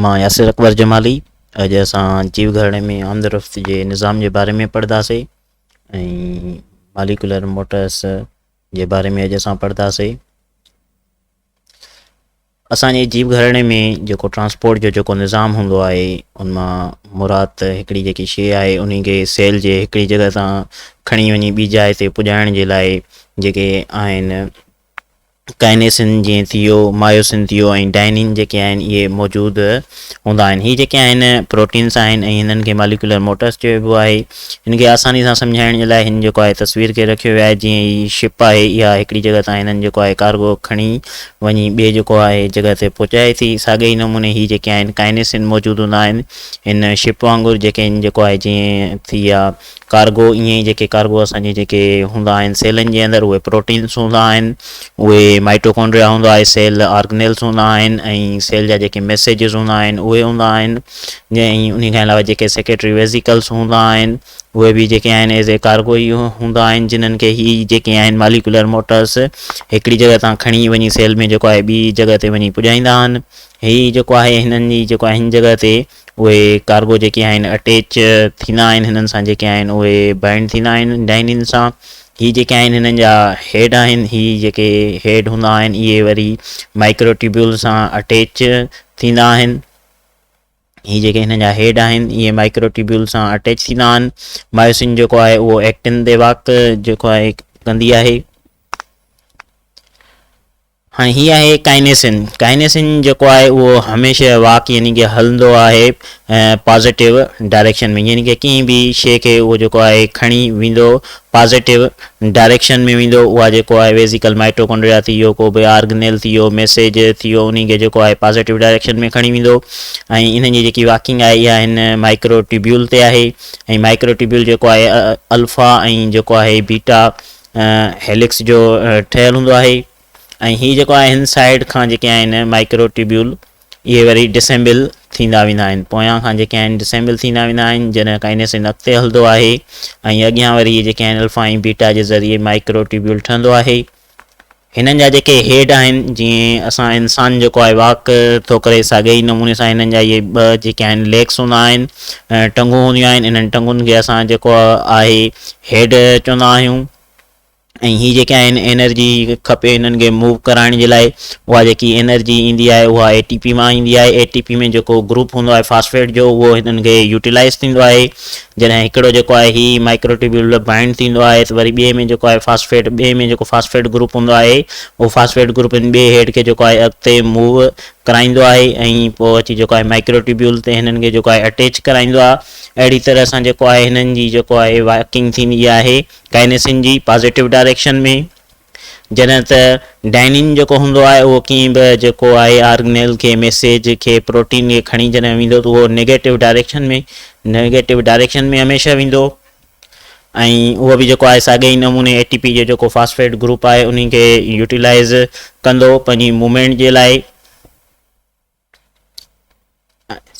مان ياسر اڪبر جمالي اڄ اسان جيو گهراڻي ۾ آمدرفت جي نظام جي باري ۾ پڙهنداسين ۽ ماليڪولر موٽرس جي باري ۾ اڄ اسان پڙهنداسين اسان جي جيو گهراڻي ۾ جيڪو ٽرانسپورٽ جو جيڪو نظام هوندو آهي ان مان مراد هڪڙي جيڪي شيء آهي ان کي سيل جي هڪڙي جڳہ تان کڻي وڃي ٻي جاء تي پڄائڻ جي لاء جيڪي آهن ڪائنيسن جيئن ٿيو، مايوسن ٿيو ۽ ڊائنين جيڪي آهن اهي موجود هوندا آهن. هي جيڪي آهن پروٽينس آهن ۽ هنن کي ماليڪيولر موٽرس چئبو آهي. هن کي آساني سان سمجهائڻ جي لاء هن جيڪو آهي تصوير کي رکيو ويو آهي جيئن هي شپ آهي اها هڪڙي جڳهه تان هنن جيڪو آهي ڪارگو کڻي وڃي ٻئي جيڪو آهي جڳهه تي پهچائي ٿي ساڳئي ئي نموني هي جيڪي آهن ڪائنيسن موجود هوندا آهن هن شپ وانگر جيڪي هن جيڪو آهي جيئن ٿي يا ڪارگو ائين ئي جيڪي ڪارگو اسان جي جيڪي هوندا آهن سيلن جي اندر اهي پروٽينس هوندا آهن اهي مائٽوڪونڊريا هوندو آهي سيل آرگنيلس هوندا آهن ۽ سيل جا جيڪي ميسيجز هوندا آهن اهي هوندا آهن جي ۽ انهي کان علاوه جيڪي سيڪريٽري ويزيڪلس هوندا آهن اهي به جيڪي آهن ايز اي ڪارگو ئي هوندا آهن جنهن کي هي جيڪي آهن ماليڪولر موٽرس هڪڙي جڳهه تان کڻي وڃي سيل ۾ جيڪو آهي ٻي جڳهه تي وڃي پڄائيندا آهن هي جيڪو آهي هنن جي جيڪو آهي هن جڳهه تي اهي ڪارگو جيڪي آهن اٽيچ ٿيندا آهن هنن سان جيڪي آهن اهي بائنڊ ٿيندا آهن ڊائنين سان هي جيڪي آهن هنن جا هيڊ آهن هي جيڪي هيڊ هوندا آهن اهي وري مائڪرو ٽيبيول سان اٽيچ ٿيندا آهن هي جيڪي هنن جا هيڊ آهن اهي مائڪرو ٽيبيول سان اٽيچ ٿيندا آهن مايوسين جيڪو آهي اهو ايڪٽن تي واڪ جيڪو آهي ڪندي آهي هاڻي هي آهي ڪائنيسن، ڪائنيسن جيڪو آهي اهو هميشه واڪ يعني ڪه هلندو آهي پازيٽو ڊائريڪشن ۾ يعني ڪه ڪنهن به شيء کي اهو جيڪو آهي کڻي ويندو پازيٽو ڊائريڪشن ۾ ويندو اها جيڪو آهي ويزيڪل مائٽوڪونڊريا ٿي ويو ڪو به آرگنيل ٿي ويو ميسيج ٿي ويو انهي کي جيڪو آهي پازيٽو ڊائريڪشن ۾ کڻي ويندو ۽ انهن جي جيڪي واڪنگ آهي اها هن مائڪرو ٽيبيول تي آهي ۽ مائڪرو ٽيبيول جيڪو آهي الفا ۽ جيڪو آهي بيٽا هيلڪس جو ٺهيل هوندو آهي ۽ هي جيڪو آهي هن سائيڊ کان جيڪي آهن مائڪرو ٽيبيول اهي وري ڊسيمبل ٿيندا ويندا آهن پويان کان جيڪي آهن ڊسيمبل ٿيندا ويندا آهن جڏهن ڪائنيسن اڳتي هلندو آهي ۽ اڳيان وري جيڪي آهن الفا ۽ بيٽا جي ذريعي مائڪرو ٽيبيول ٺهندو آهي هنن جا جيڪي هيڊ آهن جيئن اسان انسان جيڪو آهي واڪ ٿو ڪري ساڳئي ئي نموني سان هنن جا اهي ٻه جيڪي آهن ليگس هوندا آهن ٽنگون هونديون آهن انهن ٽنگن کي اسان جيڪو آهي هيڊ چوندا آهيون ۽ هي جيڪي آهن انرجي کپي هنن کي موو ڪرائڻ جي لاء اها جيڪي انرجي ايندي آهي اها اي ٽي پي مان ايندي آهي اي ٽي پي ۾ جيڪو گروپ هوندو آهي فاسفيٽ جو اهو هنن کي يوٽيلائز ٿيندو آهي جڏهن هڪڙو جيڪو آهي هي مائڪروٽيوبيول ۾ بائنڊ ٿيندو آهي ته وري ٻئي ۾ جيڪو آهي فاسفيٽ ٻئي ۾ جيڪو فاسفيٽ گروپ هوندو آهي اهو فاسفيٽ گروپ هن ٻئي هيڊ کي جيڪو آهي اڳتي موو ڪرائيندو آهي ۽ پوء اچي جيڪو آهي مائڪروٽيوبيول تي هنن کي جيڪو آهي اٽيچ ڪرائيندو آهي اهڙي طرح سان جيڪو آهي هنن جي جيڪو آهي واڪنگ ٿيندي آهي ڪائنيسن جي پازيٽو ڊائريڪشن ۾. جڏهن ته ڊائنين جيڪو هوندو آهي اهو ڪنهن به جيڪو آهي آرگنيل کي ميسيج کي پروٽين کي کڻي جڏهن ويندو ته اهو نيگيٽو ڊائريڪشن ۾ نيگيٽو ڊائريڪشن ۾ هميشه ويندو ۽ اهو به جيڪو آهي ساڳئي ئي نموني اي ٽي پي جو جيڪو فاسفيٽ گروپ آهي انهي کي يوٽيلائز ڪندو پنهنجي موومينٽ جي لاء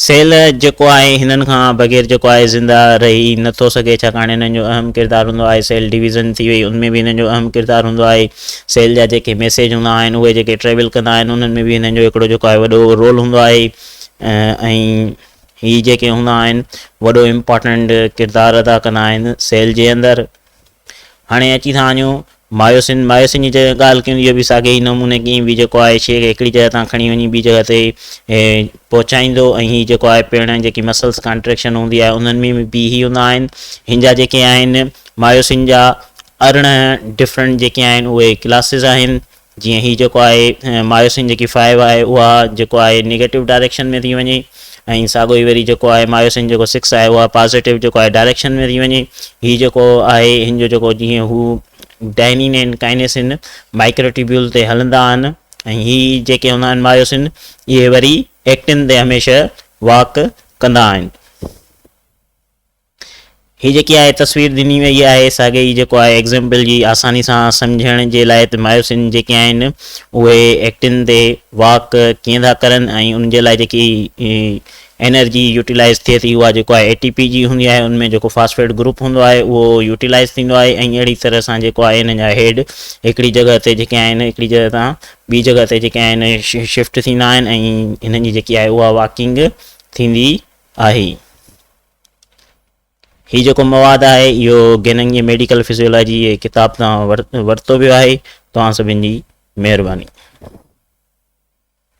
سيل جيڪو آهي هنن کان بغير جيڪو آهي زنده رهي نه ٿو سگهي ڇاڪاڻ هنن جو اهم ڪردار هوندو آهي سيل ڊويزن ٿي وئي ان ۾ به هنن جو اهم ڪردار هوندو آهي سيل جا جيڪي ميسيج هوندا آهن اهي جيڪي ٽريول ڪندا آهن انهن ۾ به هنن جو هڪڙو جيڪو آهي وڏو رول هوندو آهي ۽ هي جيڪي هوندا آهن وڏو امپارٽنٽ ڪردار ادا ڪندا آهن سيل جي اندر هاڻي اچي ٿا وڃون مايوسين مايوسين جي جڏهن ڳالهه ڪيون اهو به ساڳئي ئي نموني ڪيئي به جيڪو آهي شيء کي هڪڙي جڳهه تان کڻي وڃي ٻي جڳهه تي پهچائيندو ۽ هي جيڪو آهي پيڻ جيڪي مسلس ڪانٽريڪشن هوندي آهي انهن ۾ به بي هي هوندا آهن هن جا جيڪي آهن مايوسين جا ارڙهن ڊفرنٽ جيڪي آهن اهي ڪلاسز آهن جيئن هي جيڪو آهي مايوسين جيڪي فائيو آهي اها جيڪو آهي نيگيٽو ڊائريڪشن ۾ ٿي وڃي ۽ ساڳو ئي وري جيڪو آهي مايوسين جيڪو سڪس آهي اها پازيٽو جيڪو آهي ڊائريڪشن ۾ ٿي وڃي هي جيڪو آهي هن جو جيڪو جيئن هو ڊائنين ۽ ڪائنيسين مائڪرو ٽيبيول تي هلندا آهن ۽ هي جيڪي هوندا آهن مايوسين اهي وري ايڪٽن تي هميشه واڪ ڪندا آهن. هي جيڪي آء تصوير ڏني وئي آهي ساڳئي جيڪو آء ايگزيمپل جي آساني سان سمجهڻ جي لاء ته مايوسين جيڪي آهن اهي ايڪٽن تي واڪ ڪيئن ٿا ڪرن ۽ ان جي لاء جيڪي انرجي يوٽيلائز ٿئي ٿي اها جيڪو آء اي ٽي پي جي هوندي آهي ان ۾ جيڪو فاسفيٽ گروپ هوندو آهي اهو يوٽيلائز ٿيندو آهي ۽ اهڙي طرح سان جيڪو آهي ان جا هيڊ هڪڙي جڳهه تي جيڪي آهن هڪڙي جڳهه تان ٻي جڳهه تي جيڪي آهن شفٽ ٿيندا آهن ۽ هنن جي جيڪي آهي اها واڪنگ ٿيندي آهي هي جيڪو مواد آهي اهو گيننگ جي ميڊيڪل فزيولاجي جي ڪتاب تان ورتو ويو آهي توهان سڀن جي مهرباني